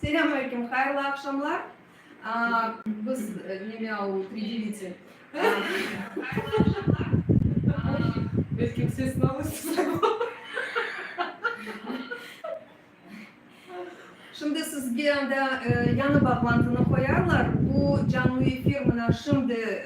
Selâm aleyküm, hayırlı aqşamlar. Biz neme al pridevice. Şimdi sizge anda yañı bağlantını qoyarlar. Bu canlı efir mına şimdi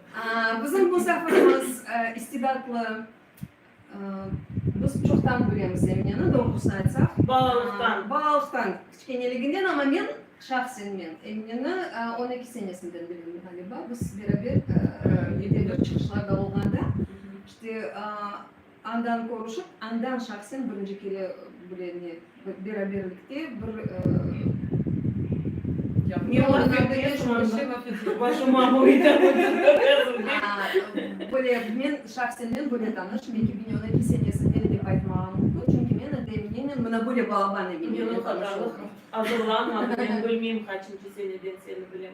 Bizim musafirimiz istidatlı, biz çoqtan bilemiz Emineni, doğrusını aytsaq. Balalıqtan. Balalıqtan, kiçkeneliginden, amma men, şahsen men, Emineni on eki senesinden bilem ğaliba, biz beraber, yedek yurt çıqışlarda olğanda, işte, Andan körüşip, andan şahsen birinci kere bile ne, beraberlikte bir böyle men şahsen men böyle tanış, men ki Binyona ki senesinden dep aytmağım mümkün, çünki men ende eminenmen mına böyle balaban eminenmen tanış oldum. Binyona qadar azırlanmadım, men bilmeyim, qaçıncı seneden seni bilem.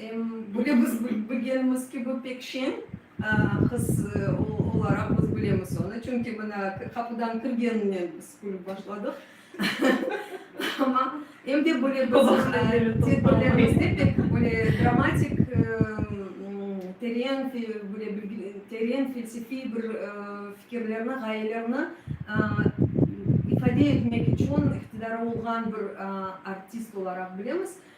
Em, böyle biz bilgenimiz kibi pek şeñ qız olaraq biz bilemiz onı, çünki mına qapudan kirgeninen biz külip başladıq. Amma, em de böyle tedbirlerimizde pek böyle dramatik, teren, böyle teren felsefiy bir fikirlerni, ğayelerni ifade etmek içün iqtidarı olğan bir artist olaraq bilemiz.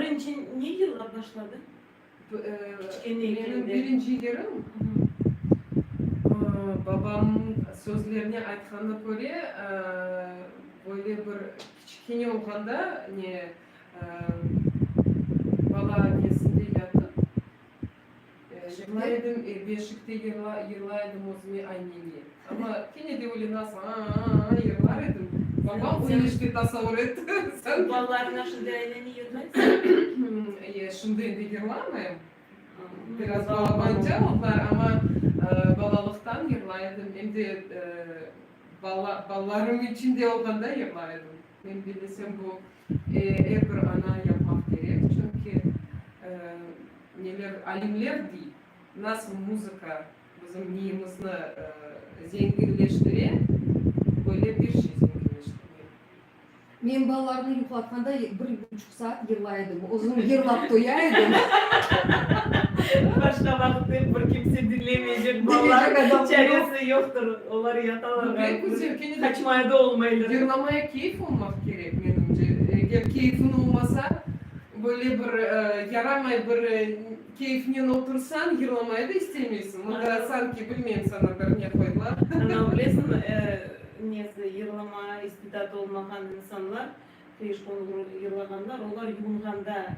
Birinci ne yılla başladı? Kiçkene ekende. Menim birinci yerim, babamnıñ sözlerine aytqanına köre, böyle bir kiçkene olğanda, ne, bala annesinde yatıp, Yırlaydım e, beşikte yırlaydım özüme aynenge. Amma kene de öyle nasıl a-a-a-a yırlar edim. Babam sen işte tasavur et. Sen balalarına şimdi ayneni yırlaysıñ? E, şimdi endi yırlamayım. Biraz balabancı oldılar, amma balalıqtan yırlay edim. Em de balalarım içinde olğanda yırlay edim. Men bilesem bu. Er bir ana yapmaq kerek, çünki neler, alimler dey, nasıl muzıka bizim miyimizni zenginleştire, böyle bir şey zenginleştirmeli. Men balalarnı yuqlatqanda bir buçuq saat yırlay edim, özüm yırlap toya edim. Başqa vaqıt dep bir kimse diñlemeycek balalar, çaresi yoqtır, olar yatalar, qaçmaya da olmaylar. Yırlamaya keyf olmaq kerek. Menimce, eger keyfiñ olmasa, böyle bir yaramay bir keyfinen otursañ, yırlamaya da istemeysiñ. Mında sanki, bilmeyim, saña bir ne qoydılar. Ana, bilesiñmi, nesi, yırlama istidatı olmağan insanlar, tış qoñu yırlağanlar, olar yuvinğanda,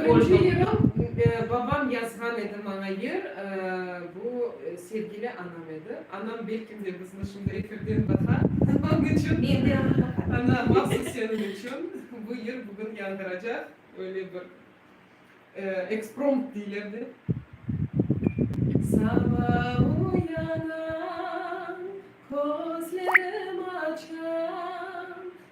Birinci yırım, babam yazğan edi maña yır, bu sevgili anam edi. Anam belkim de bizni şimdi efirden baqa, onıñ içün. Men de onı baqarım. Ana, mahsus seniñ içün bu yır bugün yañğıracaq, öyle bir eksprompt deyler de. Sabah uyanam, közlerim açam.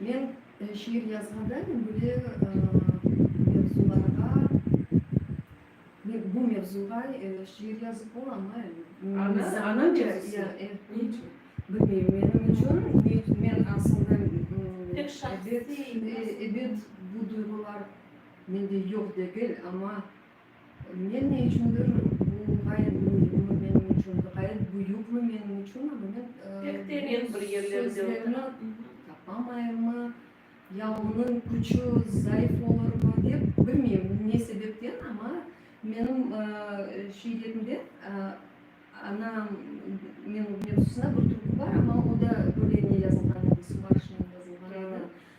Men şiir yazğanda men böyle mevzularğa, bu mevzuğa şiir yazıp olamı? Bilmeyim, menim içün, men aslında ebet bu duyğular mende yoq degil, amma Men ne içündir bu ğayet müimmi menim içün, ğayet büyükmi menim içün, amma men sözlerni tapamayırmı, ya onıñ küçü zayıf olurmı dep, bilmeyim ne sebepten, amma menim şeylerimde ana mevzusında bir türkü bar, amma o da böyle ne yazılğan edi, Subaşınen yazılğan edi.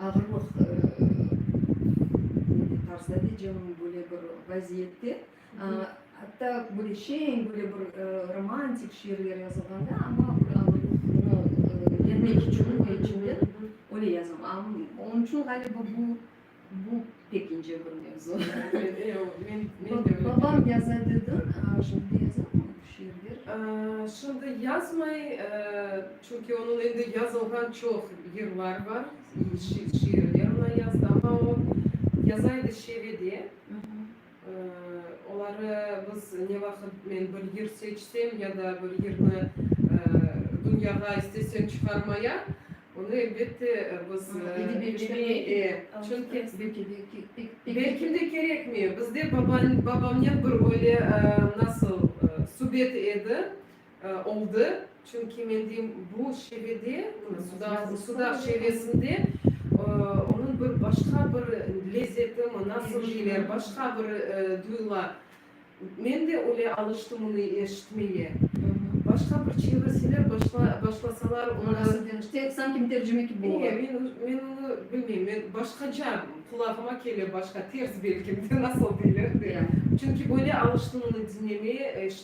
Ağırlıq böyle tarzda diycem, böyle bir vaziyette, atta böyle şeñ, böyle bir romantik şiirler yazılğanda, amma bir ağırlıqnı yenmek içün, ne içündür, öyle yazam. Onıñ içün ğaliba bu, bu. Pek ince bir mevzu. Babam yaza dedi, şimdi yazar mı şiirler? Şimdi yazmay, çünki onıñ endi yazılğan çoq yırlar bar, şiirler oña yazdı, amma o yaza edi şive de. Oları biz ne vaqıt men bir yır seçsem ya da bir yırnı dünyağa istesem çıqarmaya, onı elbette biz belki de kerekmey. Bizde babamnen bir öyle nasıl subet edi, oldı, çünki mendim bu şevede, sudaq şevesinde onıñ bir başqa bir lezzetimi, nasıl deyler, başqa bir duyula. Men de öyle alıştım onı eşitmeye. Başqa bir çevreseler başlasalar onı. Nasıl demiş, tek sanki mütercime kibi ola. Eee, men onı bilmeyim, men başqaca, qulağıma kele başqa, ters belki, nasıl deyler de. Çünki böyle alıştım onı diñlemeye, eşitmeye.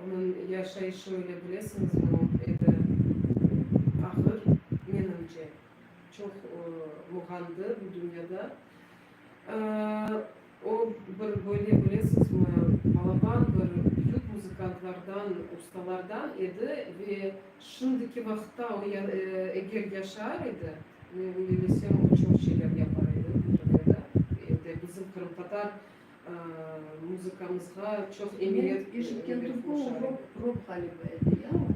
Onıñ yaşayışı öyle, bilesiñizmi, o edi ağır, menimce. Çoq muğandı bu dünyada. O bir böyle, bilesiñizmi, balaban bir büyük muzıkantlardan, ustalardan edi ve şimdiki vaqıtta o eger yaşar edi, men öyle bilsem, o çoq şeyler yapar edi, bildim edi. Endi bizim qırımtatar. Muzıkamızğa çoq emiyet berip qoşadı.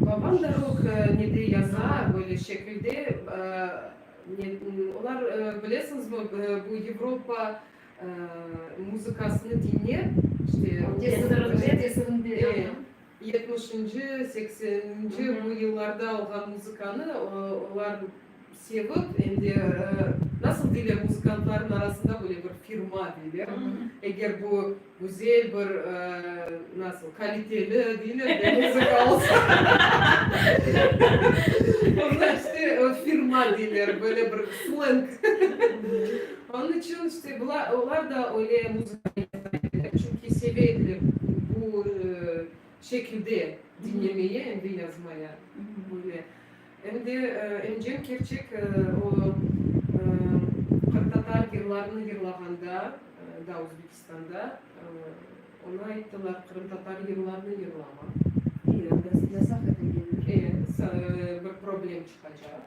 Babam da rok ne de yaza, böyle şekilde. Olar, bilesiñizmi, bu Yevropa muzıkasını diñlep, işte, tesirinde. Yetmişinci, sekseninci bu yıllarda olğan muzıkanı olar sevip, em de, nasıl deyler, muzıkantlarnıñ arasında böyle bir firma deyler, eger bu güzel bir, nasıl, kaliteli deyler de, muzıka olsa, onlar işte firma deyler, böyle bir sleng. Onıñ içün işte bular, olar da öyle muzıkanı yırtqa ediler, çünki seve ediler bu şekilde diñlemeye, em de yazmaya böyle. Em de Emcem Kerçek o qırımtatar yırlarını yırlağanda, daa Özbekistanda, oña ayttılar, qırımtatar yırlarını yırlama. Yasaq etilgendir. E, bir problem çıqacaq.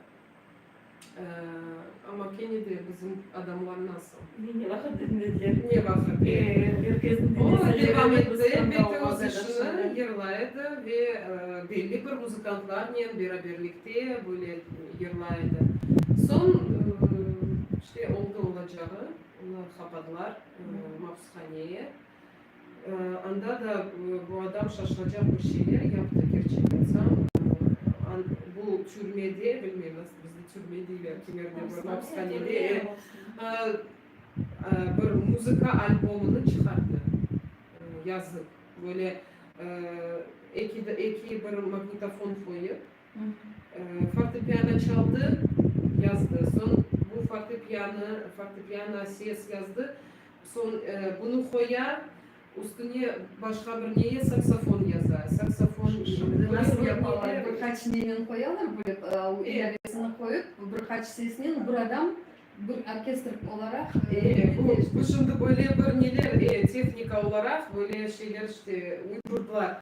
Amma kene de bizim adamlar nasıl? Ne vaqıt dinlediler? Ne vaqıt? O devam ete, beti öz işini yırlay edi ve belli bir muzıkantlarnen beraberlikte böyle yırlay edi. Soñ, işte, oldı olacağı, onı qapadılar mabushaneye. Anda da bu adam şaşılacaq bir şeyler yaptı, kerçek aytsam, bu türmede, bilmeyim, nasıl bizde türme deyler, kimerde bor, mapishanede, e, bir muzıka albomını çıqardı, yazıp, böyle, eki, eki bir magnitofon qoyıp, Fortepiano çaldı, yazdı. Soñ bu fortepiano, fortepiano ses yazdı. Soñ bunı qoya, üstüne başqa bir neye saksofon yaza. Saksofon. Şimdi nasıl yapalar? Bir qaç neynen qoyalar böyle, o ilavesini qoyıp, bir qaç sesnen bir adam, bir orkestr olaraq. E, bu, bu şimdi böyle bir neler, e, tehnika olaraq böyle şeyler işte uydurdılar.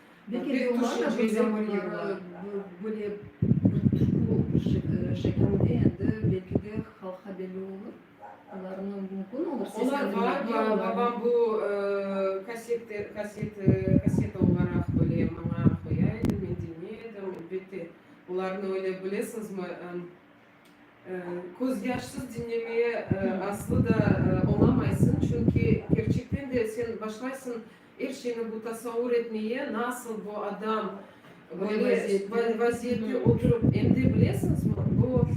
Pek tüşünceli olar. Böyle bir tüşkü şeklinde endi belki de halqqa belli olur. Olarnı mümkün olur seslendirmege. Olar bar, bar. Babam bu kassete, kassete, kasseta olaraq böyle maña qoya edi, men diñley edim. Elbette, olarnı öyle bilesizmi, Közyaşsız diñlemeye aslı da olamaysıñ, çünki kerçekten de sen başlaysıñ er şeyni bu tasavur etmeye, nasıl bu adam böyle vaziyette oturıp, em de bilesiñizmi, bu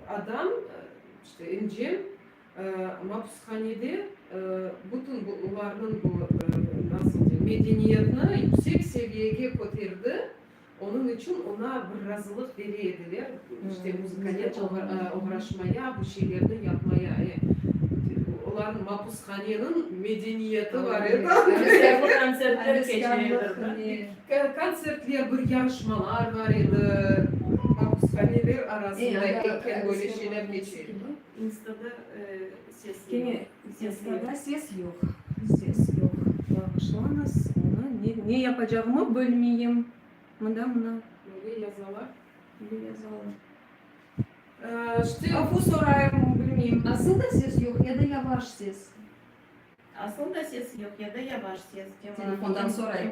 adam, işte İncem, mapushanede bütün bularnıñ bu, nasıl deyim, medeniyetni yüksek seviyege köterdi, Onıñ içün oña bir razılıq bere ediler, işte, muzıkanen oğraşmaya, bu şeylerni yapmaya. E, olarnıñ mapushaneniñ medeniyeti bar edi. Ğeveselli kontsertler keçiredirdi. Kontsertler, bir yarışmalar bar edi, mapushaneler arasında ekken böyle şeyler keçe edi. İnstada sesli. Testlarda ses yoq, ses yoq. Bağışlañız, onı ne, ne yapacağımı bilmeyim. Mında, mına. Böyle yazalar. Böyle yazalar. Ştı. Afu sorayım, bilmeyim. Asıl da ses yoq ya da yavaş ses? Asıl da ses yoq ya da yavaş ses. Telefondan sorayım.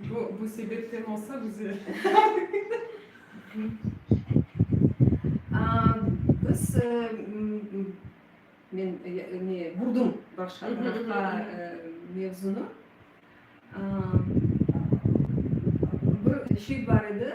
Bu, bu sebepten olsa güzel. Aa, biz, ıı, men, ne, burdım başqa tarafqa mevzunı. Aa, bir şey bar edi.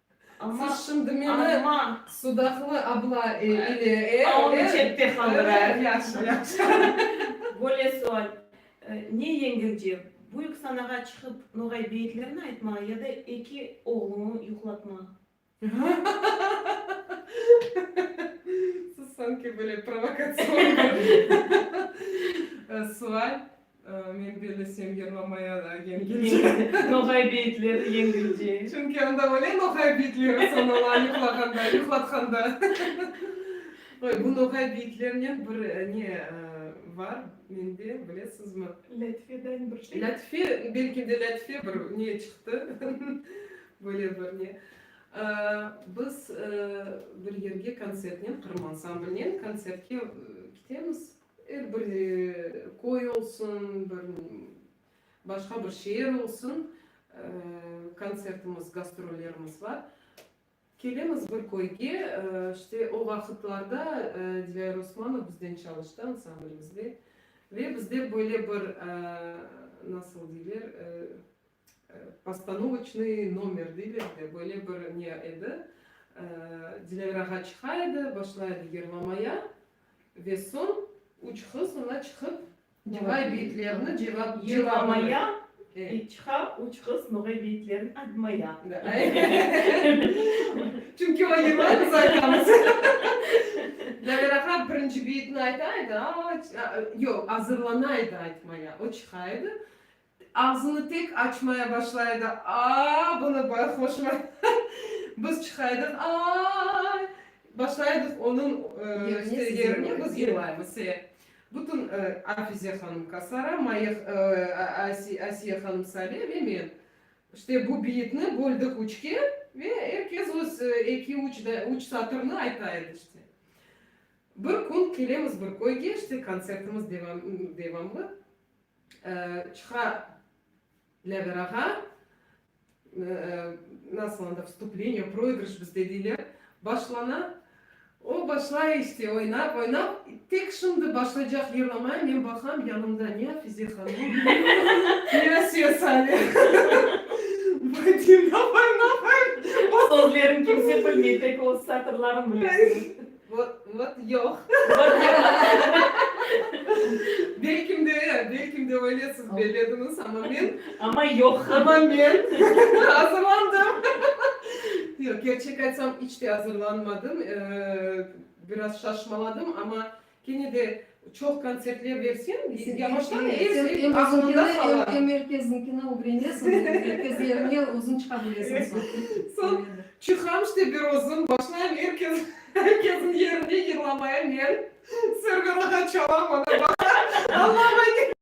Siz şimdi meni sudaqlı abla ile e, Böyle sual, ne yengilce, büyük sanağa çıqıp noğay beyitlerini aytmağa ya da eki oğluñı yuqlatmağa? Siz sanki böyle provokatsion bir sual. Men bellesem yırlamaya da yengilce. Noğay beyitleri yengilce. Çünki anda öyle noğay beyitleri sonala yuqlağanda, yuqlatqanda. Oy, bu noğay beyitlerinen bir ne var mende, bilesizmi? Lâtife deñ bir şey. Lâtife, belki de lâtife bir ne çıqtı, böyle bir ne. Biz bir yerge konsertnen, Qırım ansamblinen konsertke kitemiz. Er bir köy olsun, bir başqa bir şeer olsun, kontsertimiz, gastrollerimiz bar. Kelemiz bir köyge, işte o vaqıtlarda Dilâr Osmanov bizden çalıştı ansamblmizde. Ve bizde böyle bir, nasıl deyler, postanovıçnıy nomer deyler de, böyle bir ne edi, Dilâr ağa çıqa edi, başla edi yırlamaya, Ve soñ üç qız oña çıqıp, noğay beyitlerini cevap, cevabını. Ve çıqa üç qız noğay beyitlerini admaya. Çünki o yırlar biz aytamız. Zaver ağa birinci beyitni ayta edi, a, yoq, azırlana edi aytmaya. O çıqa edi, Ağzını tek açmaya başlay edi, Aa, bunı bay hoşuma. Biz çıqaydıq, Aay! Başlaydıq onıñ işte yerine biz yığlaymız. Se. Bütün Afize hanım Kasara, Maya, Asiye hanım Sale ve men. İşte bu biyitni böldük üçke ve er kes öz eki, üç, üç satırnı ayta edi işte. Bir kün kelemiz bir köyge, işte kontsertimiz devam, devamlı. çıqa bileler ağa, nasıl anda, vstupleniye, proigrış bizde deyler, başlana, o başlay işte oynap, oynap, tek şimdi başlaycaq yırlamaya men baqam, yanımda ne Afize hanım, ne Asiye Sale, Badina Baymaxayev, Sözlerin kimse bilmey, tek öz satırların bilesiñiz. Vot yoq. Belkim de, belkim de öylesiz bellediñiz, amma men. Amma yoq. Amma men azırlandım. Yoq, kerçek aytsam, iç te azırlanmadım. Biraz şaşmaladım, amma kene de Çoq kontsertler bersem, yavaştan er şey aklında qala. Sen erkezinkine ögrenesiñ, erkezlerine özüñ çıqa bilesiñ soñ. Soñ çıqam işte bir özüm, başlayım erkez, erkeziñ yerinde yırlamaya men. Serverlığa çalam, ana, baqa, anlamaydı.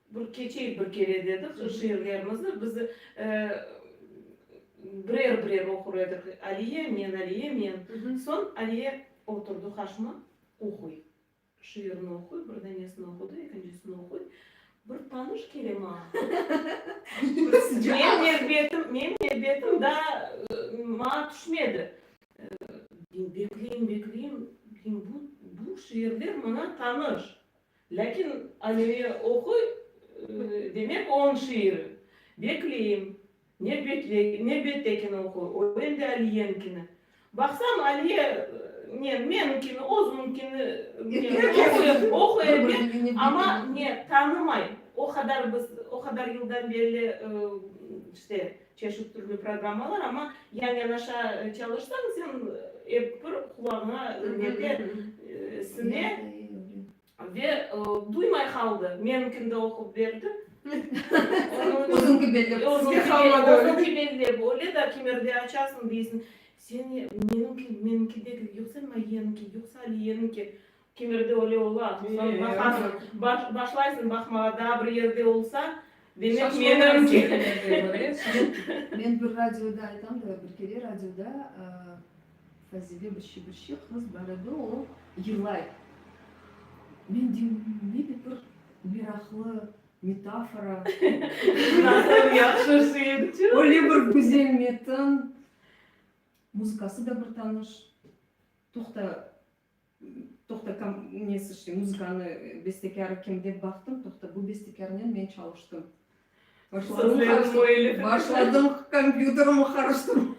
Bir keçey bir kere dedi ki, şiirlerimizni biz birer-birer oqur edik. Aliye, men, Aliye, men. Soñ Aliye oturdı qarşıma, oquy. Şiirini oquy, bir danesini oqudı, ekincisini oquy. Bir tanış kele maña. Menim nevbetim daa maña tüşmedi. Bekleyim, bekleyim, bu şiirler maña tanış. Lâkin Amire oquy, demek, oñ şiiri. Bekleyim. Nevbettekini oquy, o em de Aliyenkini. Baqsam, Aliye ne, meninkini, özüminkini oquy eken, amma ne, tanımay. O qadar biz, o qadar yıldan belli, işte, Çeşit türlü programmalar, amma yan-yanaşa çalışsañ, sen ep bir qulağıña nete sine ve duymay qaldı. Meniñkini de oqup berdi. Özüñki bellep özüñki qalmadı. Özüñki bellep, öyle da kimerde açasıñ, deysiñ, seni, meniñki, meniñkideki, yoqsa Mayeninki, yoqsa Aliyeninki. Kemirdi, öyle ola. Soñ baqasıñ, başlaysıñ baqmağa, daa bir yerde olsa, demek meni. Men bir radioda aytam da, bir kere radioda Fazile bir şibirşi qız bar edi, o yılay. Men deyim, ne de bir meraqlı metafora. Nasıl yahşı şiirçi. Öyle bir güzel metin. Muzıkası da bir tanış. Toqta, Toqta, kom, nesi işte, muzıkanı, bestekârı kim dep baqtım, toqta, bu bestekârnen men çalıştım. Başladım qarıştırma, başladım kompyuterimi qarıştırma.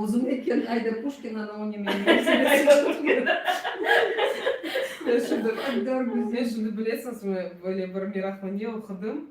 Özüm eken, Ayda Puşkina, no ne menim esimde. Ayda Puşkina. Şimdi, Aydar Güzel, şimdi bilesiñizmi, böyle bir meraqlı ne oqudım,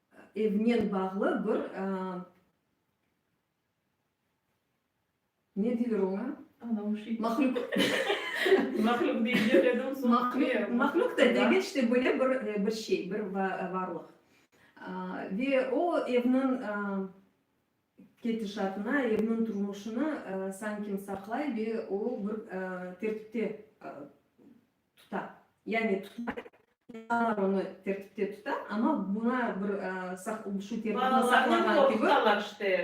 Evnen bağlı bir, ne deyler oña? Nauşnik. Mahlük. Mahlük deyler edim, soñ. Mahlük, mahlük de degil, işte böyle bir, bir şey, bir varlıq. Ve o evniñ ketişatına, evniñ turmuşına sanki saqlay ve o bir tertipte Tuta, yani tutmay. İnsanlar onı tertipte tuta, amma buña bir şu tertipni saqlağa kibi,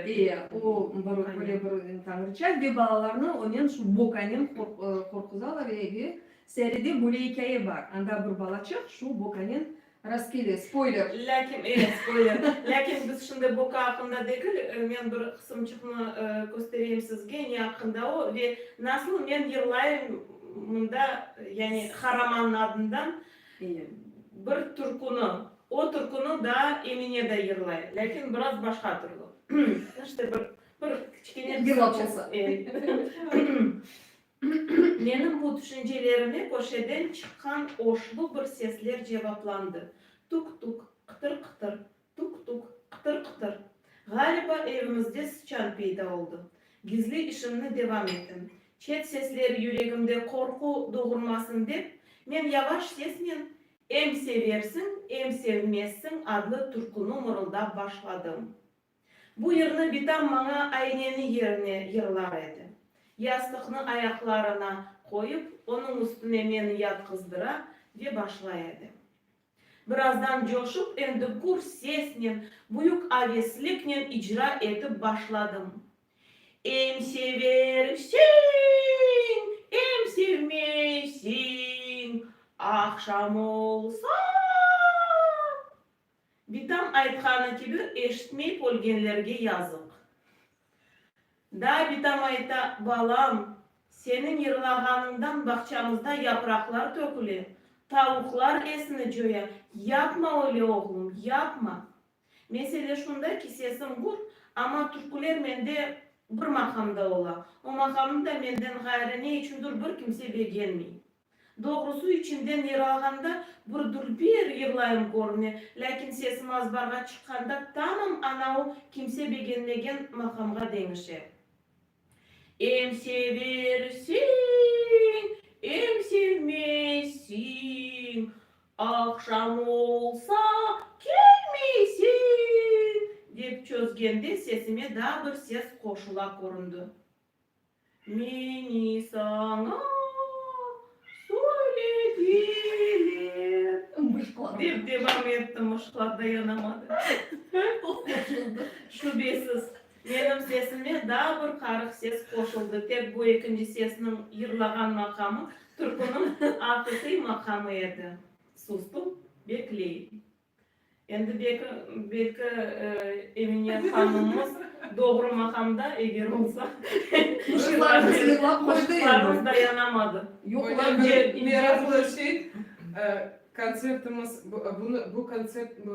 eee, o bir böyle bir tañrıça ve balalarnı onen şu bokanen qorquzalar, ve Säride böyle ikâye bar, anda bir balaçıq şu bokanen Rastgele, spoyler! Lâkin, e, spoyler! Lâkin biz şimdi boka aqqında degil, men bir qısımçıqnı köstereyim sizge, ne aqqında o ve nasıl men yırlayım mında, yani Haraman'nıñ adından bir türkünü. O türkünü daa Emine de yırlay, lâkin biraz başqa türlü. İşte bir, bir kiçkene. Yırlap olsa. Menim bu tüşüncelerime köşeden çıqqan oşlu bir sesler cevaplandı, Tuk-tuk, qıtır-qıtır, tuk-tuk, qıtır-qıtır. Ğaliba, evimizde sıçan peyda oldı. Gizli işimni devam ettim. Çet sesler yüregimde qorqu doğurmasın dep, men yavaş sesnen Em seversiñ, em sevmezsiñ adlı türkünü mırıldap başladım. Bu yırnı bitam maña ayneni yerine yırlar edi. Yastıqnı ayaqlarına qoyıp, onıñ üstüne meni yatqızdıra ve başlay edi. Birazdan coşıp, endi gür sesnen, büyük avesliknen icra etip başladım, Em seversiñ, em sevmeysiñ, Aqşam olsa. Bitam aytqanı kibi, eşitmey pölgenlerge yazıq. Daa Bitam ayta, Balam, seniñ yırlağanıñdan bağçamızda yapraqlar töküle, tavuqlar esini coya, yapma öyle, oğlum, yapma. Mesele şunda ki, sesim gur, amma türküler mende bir maqamda ola, o maqamnı da menden ğayrı ne içündur bir kimse begenmey. Doğrusı, içimden yırağanda bir dülber yırlayım körüne, lâkin sesim azbarğa çıqqanda tamam anau kimse begenmegen maqamğa deñişe. Em seversiñ, em sevmeysiñ, aqşam olsa, kelmeysiñ! dep çözgende sesime daa bir ses qoşula köründi. Meni saña söylediler. Mışqlar. Dep devam etti, mışqlar dayanamadı. Qoşuldı. Şübesiz, menim sesime daa bir qarıq ses qoşuldı, tek bu ekinci sesniñ yırlağan maqamı türküniñ aqiqiy maqamı edi. Sustum, bekleyim. Endi belki Emine hanımımız doğru maqamda, eger olsa, qoşuqlarımız dayanamadı. Meraklı şey, kontsertimiz, bu kontsept,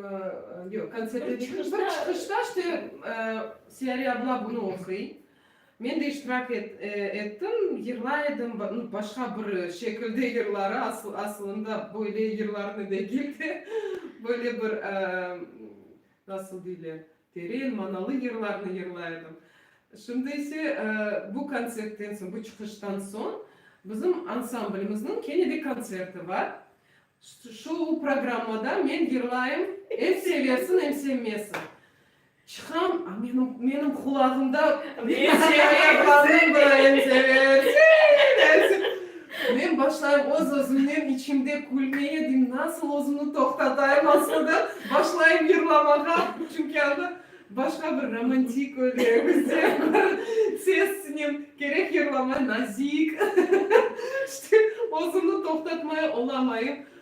yoq, kontsertimiz, çıqışta, işte, Siyari abla bunı oquy, Men de iştirak ettim, yırlay edim, başqa bir şekilde yırları, asılında böyle yırlarnı degil de, böyle bir, nasıl deyler, teren manalı yırlarnı yırlay edim. Şimdi ise bu kontsertten soñ, bu çıqıştan soñ bizim ansamblimizniñ kene de kontserti bar. Şu programmada men yırlayım, em seversin, em sevmesin. Çıqam, a menim, menim qulağımda men seni ayaqlarımnen bırayan seversen, aytsın. Men başlayım öz-özümnen içimde külmeye, deyim, nasıl özümni toqtatayım asılda, başlayım yırlamağa, çünki anda başqa bir romantik öyle bizde bir sesnen, kerek yırlamay, nazik, işte, özümni toqtatmay olamayım.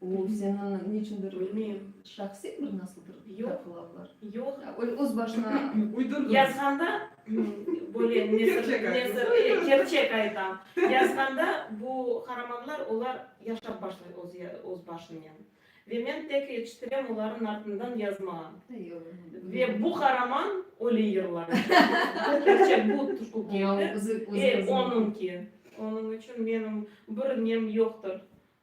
O seni niçündir, bilmeyim, şahsiy bir nasıldır yargılavlar. Yoq. Öyle öz başına uydurdın. Yazğanda böyle nezir, kerçek aytam. Yazğanda bu qaramanlar olar yaşap başlay öz başınen. Ve men tek yetiştirem olarnıñ artından yazmağa. Ve bu qaraman öyle yırlar. Kerçek bu tuşku keldi. Onıñki. Onıñ içün menim bir nem yoqtır.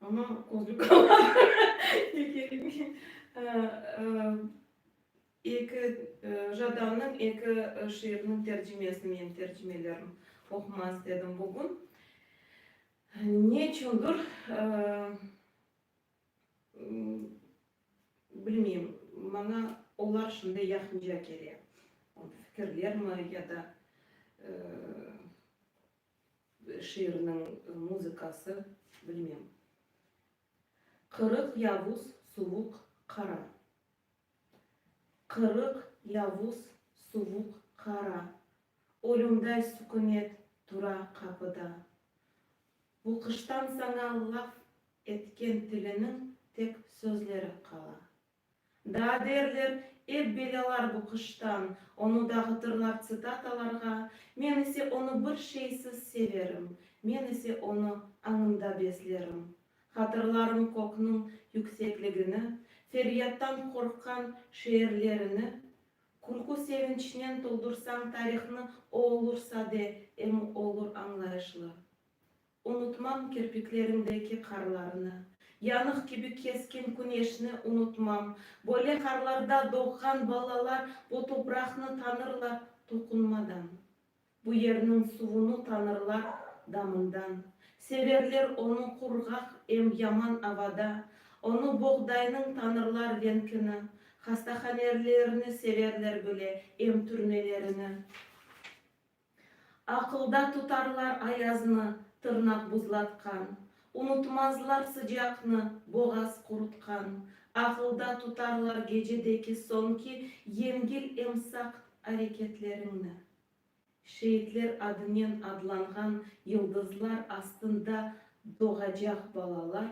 Amma közlük almağa kerekmey. Eki Jadannıñ eki şiiriniñ tercimesini men tercimelerim oqumaq istedim bugün. Ne içündir, bilmeyim, maña olar şunday yaqınca kele. Fikirlermi ya da Şiirniñ muzıkası, bilmem. Qırıq yavuz, suvuq, qara. Qırıq yavuz, suvuq, qara. Ölümday sükünet tura qapıda. Bu qıştan saña laf etken tiliniñ tek sözleri qala. Daa derler, ep belâlar bu qıştan, onı dağıtırlar tsitatalarğa, men ise onı bir şeysiz severim, men ise onı añımda beslerim. Hatırlarım kökniñ yüksekligini, feryattan qorqqan şeerlerini, Külkü sevinçnen toldursañ tarihnı o olursa de em olur añlayışlı. Unutmam kirpiklerindeki qarlarnı, Yanıq kibi keskin küneşni unutmam. Böyle qarlarda doğğan balalar Bu topraqnı tanırlar toqunmadan, Bu yerniñ suvunı tanırlar damından. Severler onı qurğaq em yaman avada, Onı boğdaynıñ tanırlar venkini, Hastahanerlerini severler bile em türmelerini. Aqılda tutarlar ayaznı, tırnaq buzlatqan, Unutmazlar sıcaqnı, boğaz qurutqan, Aqılda tutarlar gecedeki soñki Yengil em saqt areketleriñni. Şeitler adınen adlanğan yıldızlar astında Doğacaq balalar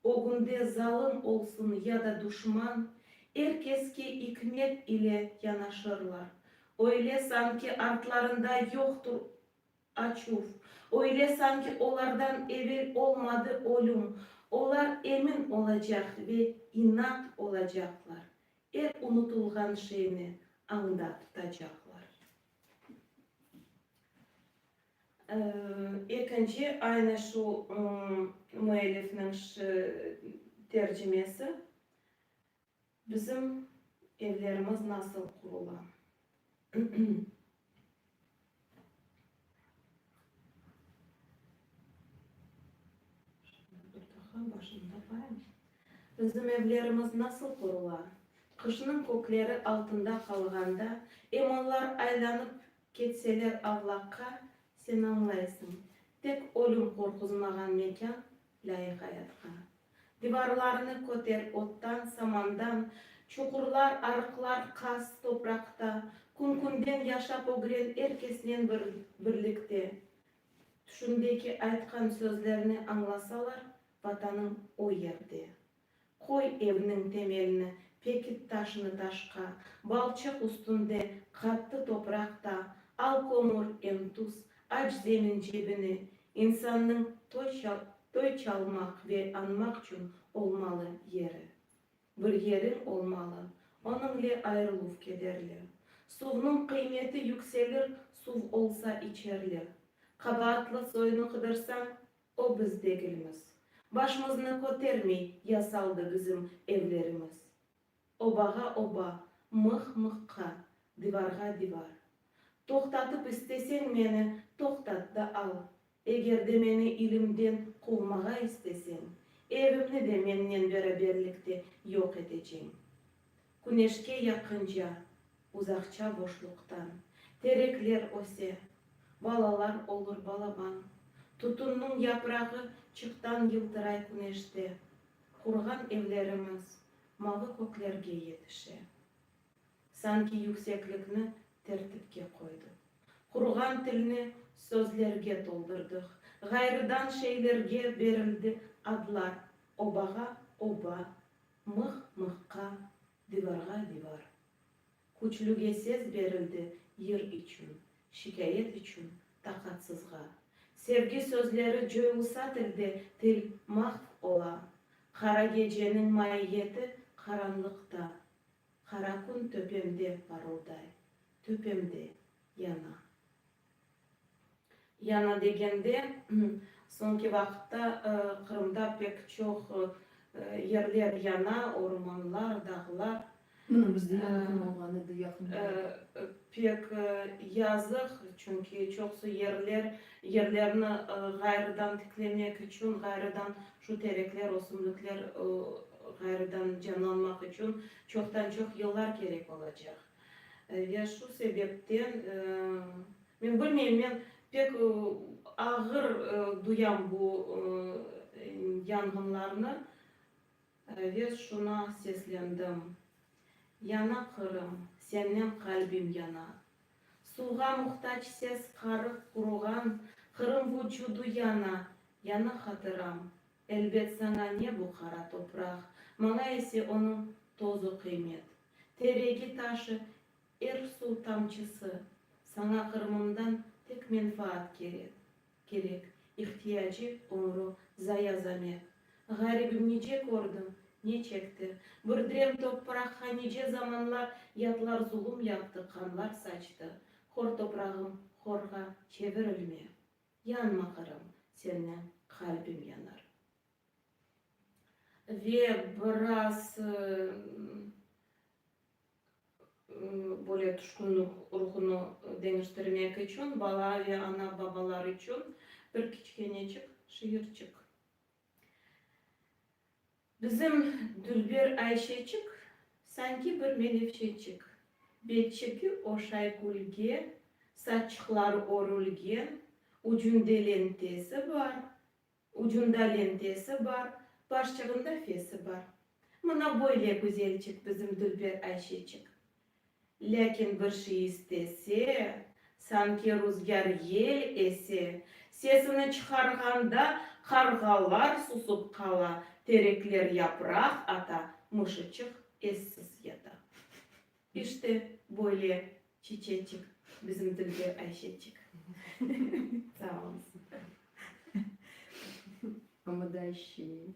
Ögünde zalım olsun ya da duşman, er keske ikmet ile yanaşırlar. Öyle sanki artlarında yoqtur açuv, öyle sanki olardan evel olmadı ölüm, olar emin olacaq ve inat olacaqlar, er unutılğan şeyni añda tutacaqlar. Ekinci, aynı şu müellifniñ tercimesi, Bizim evlerimiz nasıl qurula? Bizim evlerimiz nasıl qurula? Qışnıñ kökleri altında qalğanda, em onlar aylanıp Ketseler avlaqqa, sen añlaysıñ, Tek ölüm qorquzmağan mekân, lâyıq ayatqa. Divarlarını köter ottan, samandan, Çuqurlar, arıqlar qaz topraqta, Kün-künden yaşap ögren er kesnen bir birlikte. Tüşündeki aytqan sözlerni añlasalar, Vatanıñ o yerde. Qoy evniñ temelini, pekit taşını taşqa, balçıq üstünde qattı topraq ta, al kömür em tuz, aç zemin cebine, insannıñ toy ça, toy çalmaq ve añmaq çün olmalı yeri. Bir yeriñ olmalı, onıñle ayırıluv kederli. Suvnıñ qıymeti yükselir, suv olsa içerli. Qabaatlı soyunı qıdırsañ, O biz degilmiz. Başımıznı kötermey ya saldı bizim evlerimiz. Obağa oba, mıh mıhqa, divarğa divar. Toqtatıp isteseñ meni, toqtat da al. Eger de meni ilimden quvmağa isteseñ, evimni de mennen beraberlikte yoq eteceñ. Küneşke yaqınca, uzaqça boşluqtan. Terekler öse, balalar olur balaban. Tutunnıñ yaprağı çıqtan yıltıray küneşte. Qurğan evlerimiz mavı köklerge yetişe. Sanki yükseklikni tertipke qoydı. Qurğan tilni sözlerge toldurdıq. Ğayrıdan şeylerge berildi adlar, obağa, oba, Mıh mıhqa, divarğa divar. Küçlüge sez berildi yır içün, şikâyet içün, taqatsızğa. Sevgi sözleri coylusa tilde til mahv ola. Qara geceniñ maiyeti qaranlıqta. Qara kün töpemde parılday, töpemde yana. Yañı degende, soñki vaqıtta Qırımda pek çoq yerler yana, ormanlar, dağlar. Mına, bizde yangın olğan edi yaqın vaqıtta. Pek yazıq, çünki çoqusı yerler, yerlerni ğayrıdan tiklemek içün, ğayrıdan şu terekler, ösümlikler ğayrıdan canlanmaq içün çoqtan-çoq yıllar kerek olacaq. Ya şu sebepten, men bilmeyim, men pek ağır duyam bu yanğınlarnı ve şuna seslendim, Yana Qırım, sennen qalbim yana. Suvğa muhtac ses qarıq quruğan Qırım vucudu yana, yana hatıram, Elbet, saña ne bu qara topraq, maña ise onıñ tozu qıymet. Te regi taşı, er suv tamçısı. Saña Qırımımdan tek menfaat kerek, kerek, ihtiyacı umru zaya zamet. Ğaribim nice kördi, ne çekti, bir drem topraqqa nice zamanlar yatlar zulum yaptı, qanlar saçtı. Hor toprağım, horğa çevirilme. Yanma, Qırım, senden qalbim yanar. Ve biraz böyle tüşkünlik ruhunu deñiştirmek içün, bala ve ana-babalar içün bir kiçkeneçik şiirçik. Bizim dülber Ayşeçik, sanki bir melevşeçik, Betçeki oşay külge, saççıqları örülgen, Ucunde lentesi bar, ucunda lentesi bar, Başçığında fesi bar. Mına böyle güzelçik bizim dülber Ayşeçik. Lâkin bir şey istese, sanki ruzgâr yel ese, sesini çıqarğanda qarğalar susıp qala, terekler yapraq ata, mışıçıq essiz yata. İşte, böyle çiçeçik, bizim tilde Ayşeçik. Sağ olunız. Ama da şiir.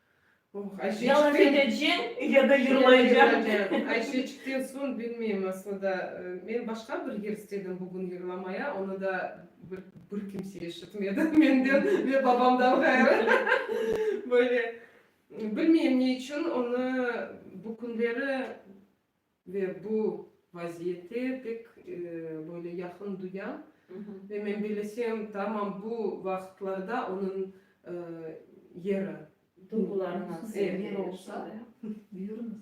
Ya laf edeceñ, ya da yırlayacağım. Ayşeçikten soñ bilmeyim, aslında men başqa bir yer istedim bugün yırlamaya, onı da bir kimse eşitmedi menden ve babamdan ğayrı. Böyle, bilmeyim ne içün onı bu künleri. Ve bu vaziyette pek böyle yaqın duyam. Ve men bilesem, tamam bu vaqıtlarda onıñ yeri. Duyğularıñız. Ev yeri olsa, buyurıñız.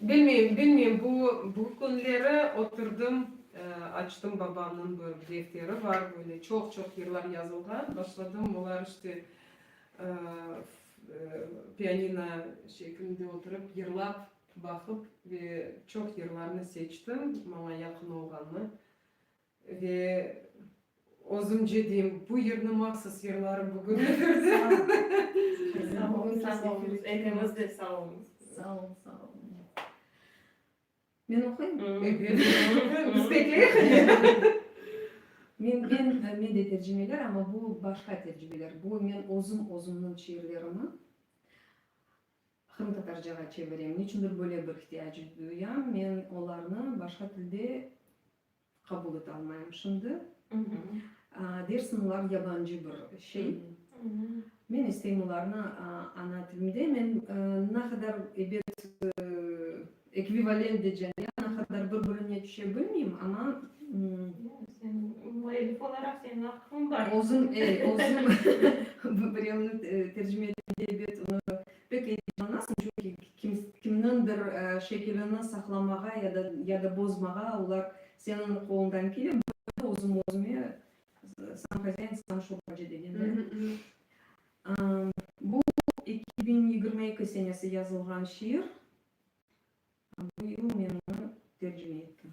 Bilmeyim, bilmeyim, bu, bu künleri oturdım, açtım babamnıñ bir defteri bar, böyle çoq-çoq yırlar yazılğan, başladım olar işte pianino şekilinde oturıp yırlap baqıp ve çoq yırlarnı seçtim, maña yaqın olğanı. Ve özümce deyim, bu yırnı mahsus yırlarım bugün efirde. Sağ olunız, sağ olunız, ekimiz de sağ olunız. Sağ olunız, sağ olunız. Men oquyım? Evet, biz bekleyik. Men, men, men de tercimeler, amma bu başqa tercimeler. Bu men özüm, özümniñ şiirlerimi qırımtatarcağa çevirem. Niçündir böyle bir ihtiyac duyam, men olarnı başqa tilde Qabul ete almayım şimdi. Dersim olar yabancı bir şey. Men isteyim olarnı ana tilimde. Men na qadar ebet ekvivalent decen ya na qadar bir birine tüşe bilmeyim, amma. Müellif olaraq senin aqqıñ bar. Özüm, özüm birevni tercime etkende ebet Pek eyecanlanasıñ, çünki kimniñdir şekilini saqlamağa ya da bozmağa olar seniñ qolundan kele. Bunı da özüm özüme Sam hozayin, sam şubacı degenler. Bu eki biñ yigirmi eki senesi yazılğan şiir. Bu yıl men onı tercime ettim.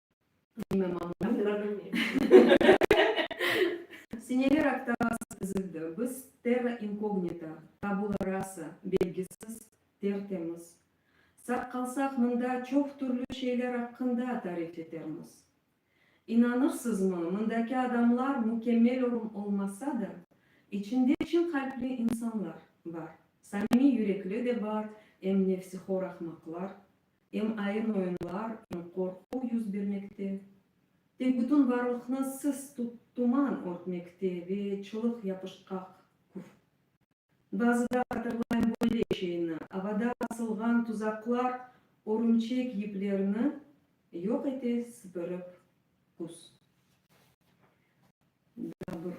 Seneler aqtağasız tizildi biz terra inkognita, tabula rasa, belgisiz, tertemiz. Sağ qalsaq mında çoq türlü şeyler aqqında tarif etermiz. İnanırsızmı, mındaki adamlar mükemmel olmasa da, içinde çın qalpli insanlar bar, samimiy yürekli de bar, em ne fsihor ahmaqlar, em ayın oyunlar, em qorquv yüz bermekte, tek bütün varlıqnı sis tuman örtmekte ve çılıq yapışqaq küf. Bazıda hatırlayım böyle şeyni, avada asılğan tuzaqlar örümçek yiplerini yoq ete sıpırıp küz. Daa bir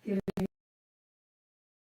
kere.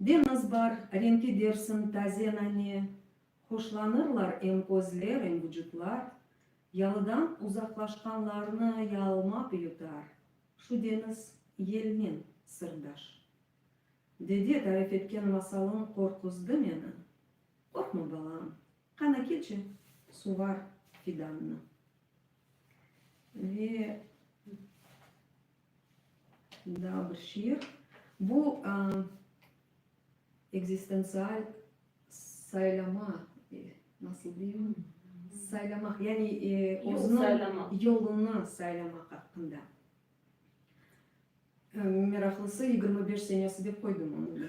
Deñiz bar, renki dersiñ taze nane, Hoşlanırlar em közler, em vucutlar, Yalıdan uzaqlaşqanlarnı yaalma püyutar, Şu deñiz yelnen sırdaş. Dede tarif etken masalıñ qorquzdı meni, Qorqma, balam, qana keçi, suvar fidannı. Ve. Daa bir şiir. Bu ekzistentsial saylama, nasıl deyim, saylamaq, yani özüniñ yolunı saylamaq aqqında. Meraqlısı, yigirmi beş senesi dep qoydum onıñ.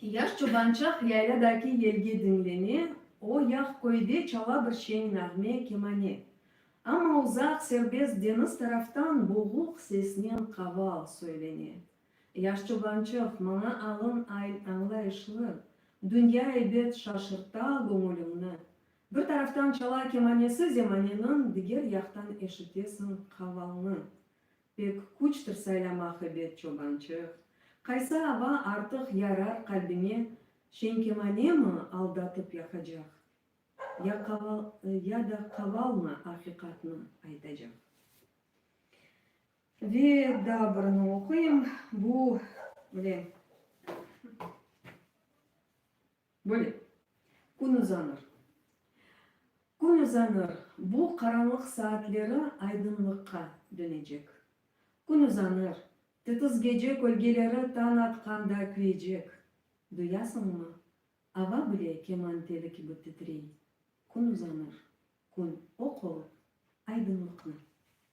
Yaş çobançaq yaylâdaki yelgi diñleme, O yaq köyde çala bir şeñ nağme, kemane. Amma uzaq serbest deñiz taraftan boğuq sesnen qaval söylene. Yaş çobançıq, maña alın ayl añlayışlı, Dünya ebet şaşırta göñülimni. Bir taraftan çala kemanesi zemaneniñ, Diger yaqtan eşitesiñ qavalnı. Pek küçtir saylamaq ebet çobançıq, Qaysı ava artıq yarar qalbine, Şenkemanemi aldatıp yaqacaq, Ya qaval, ya da qavalmı aqiqatnı aytacaq. Ve daa birini oquyım, bu, mine. Böyle, kün uzanır. Kün uzanır, bu qaranlıq saatleri aydınlıqqa dönecek. Kün uzanır, titiz gece kölgeleri tañ atqanda küyecek. Duyasıñmı? Ava bile keman teli kibi titrey. Kün uzanır. Kün oq olıp, aydınlıqnı.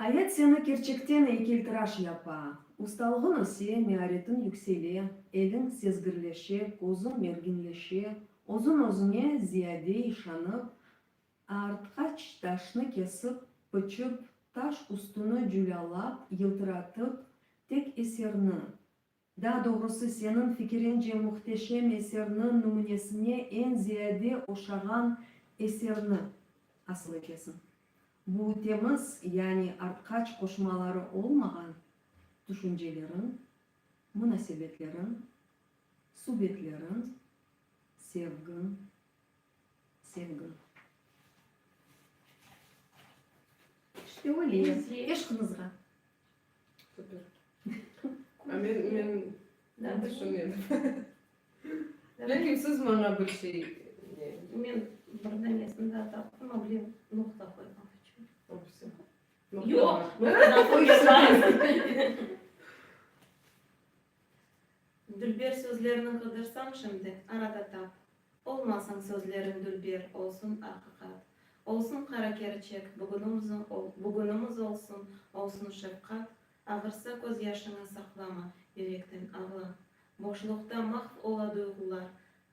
Ayat seni kerçekten eykeltıraş yapa, ustalığıñ öse, mearetin yüksele, eliñ sezgirleşe, közüñ merginleşe, özüñ özüñe ziyade işanıp, aartqaç taşnı kesip, pıçıp, taş üstüni cülâlap, yıltıratıp, tek eserni, Daa doğrusı, seniñ fikirince muhteşem eserniñ nümünesine eñ ziyade oşağan eserni asıl etesiñ? Bu temiz, yani artqaç qoşmaları olmağan, tüşünceleriñ, munasebetleriñ, subetlerin, sevgiñ. Sevgim. İşte öyle ya. Eşqımızğa. Super. A men, men, men tüşünedim. Lâkin siz maña bir şey, ne? Men bir danesini da taptım, a bile noqta qoyğan içün. Opisi. Yoq, noqta qoyğan. Dülber sözlerini qıdırsam şimdi, arada tap. Olmasın sözlerin dülber, olsun aqiqat. Olsun qara kerçek, bugünimiz olsun, olsun şefqat, Ağırsa közyaşıñı saqlama, yürekten ağla. Boşluqta mahv ola duyğular,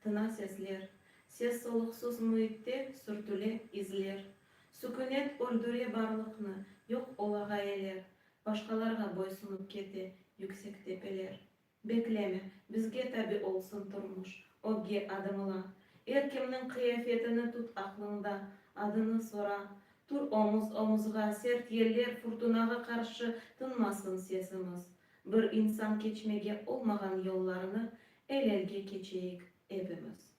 tina sesler, Ses-soluqsuz müitte sürtüle izler. Sükünet öldüre barlıqnı, yoq ola ğayeler, Başqalarğa boysunıp kete yüksek tepeler. Bekleme, bizge tabi olsun turmuş, ögge adımla. Er kimniñ qıyafetini tut aqlıñda, adını sora. Tur omuz-omuzğa, sert yeller, furtunağa qarşı tınmasın sesimiz. Bir insan keçmege olmağan yollarnı el-elge keçeyik ebimiz.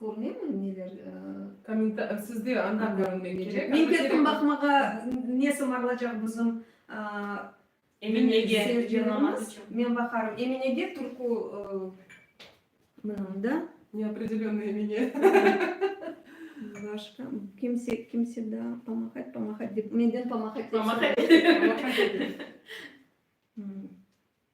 Körünemi neler kommentar sizde anda körünmek kerek. Men kettim baqmağa ne sımarlacaq bizim Eminege seyircilerimiz. Men baqarım Eminege turku mınanda. Neopredelennoy Emine. Başqa kimse kimse da pamahat pamahat dep menden pamahat dep soradı.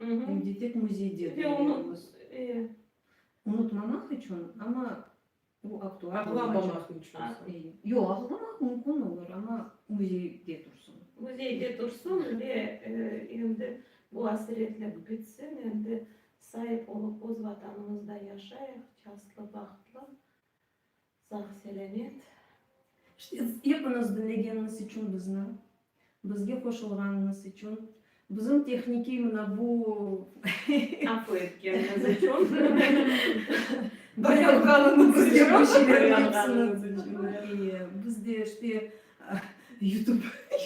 Ev detek müzeyde qoyuyoruz. Unutmamaq içün, amma o aktual. Ağlamamaq içün. Yo, ağlamaq mümkün olur, amma müzeyde tursın. Müzeyde tursın ve endi bu asiretlik bitsin, endi sahip olıp öz Vatanımızda yaşayıq, şanslı, bahtlı. Sağ-selâmet. Ştits, epiniz diñlegeniniz içün bizni, bizge qoşulğanıñız içün, bizim tehnikiy mına bu Aqlı etkeniniz içün, dayanğanıñız içün, dayanğanıñız içün. İyi, biz de işte Yutub,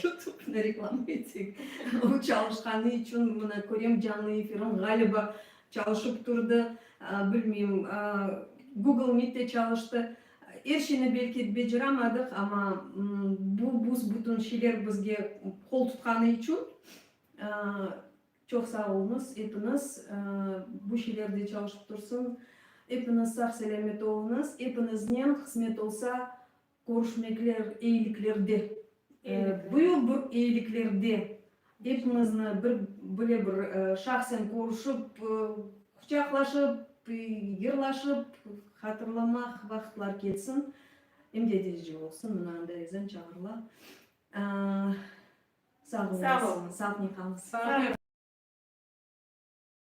Yutubnı reklama etsek, o çalışqanı içün, mına körem canlı efirni, ğaliba Çalışıp turdı, bilmeyim, Google Meet'te çalıştı. Er şeyni belki beceramadıq, amma bu büs-bütün şeyler bizge qol tutqanı içün çoq sağ oluñız epiñiz. Bu şeyler de çalışıp tursın. Epiñiz sağ-selâmet oluñız. Epiñiznen hızmet olsa Körüşmekler, eyiliklerde. Bu yıl bu eyiliklerde epiñizni bir, böyle bir şahsen körüşip, quçaqlaşıp, yırlaşıp hatırlamaq vaqıtlar kelsin. Em de edici olsun, mına anda ezan çağırıla. Sağ olunız. Sağ olunız. Sağ olunız.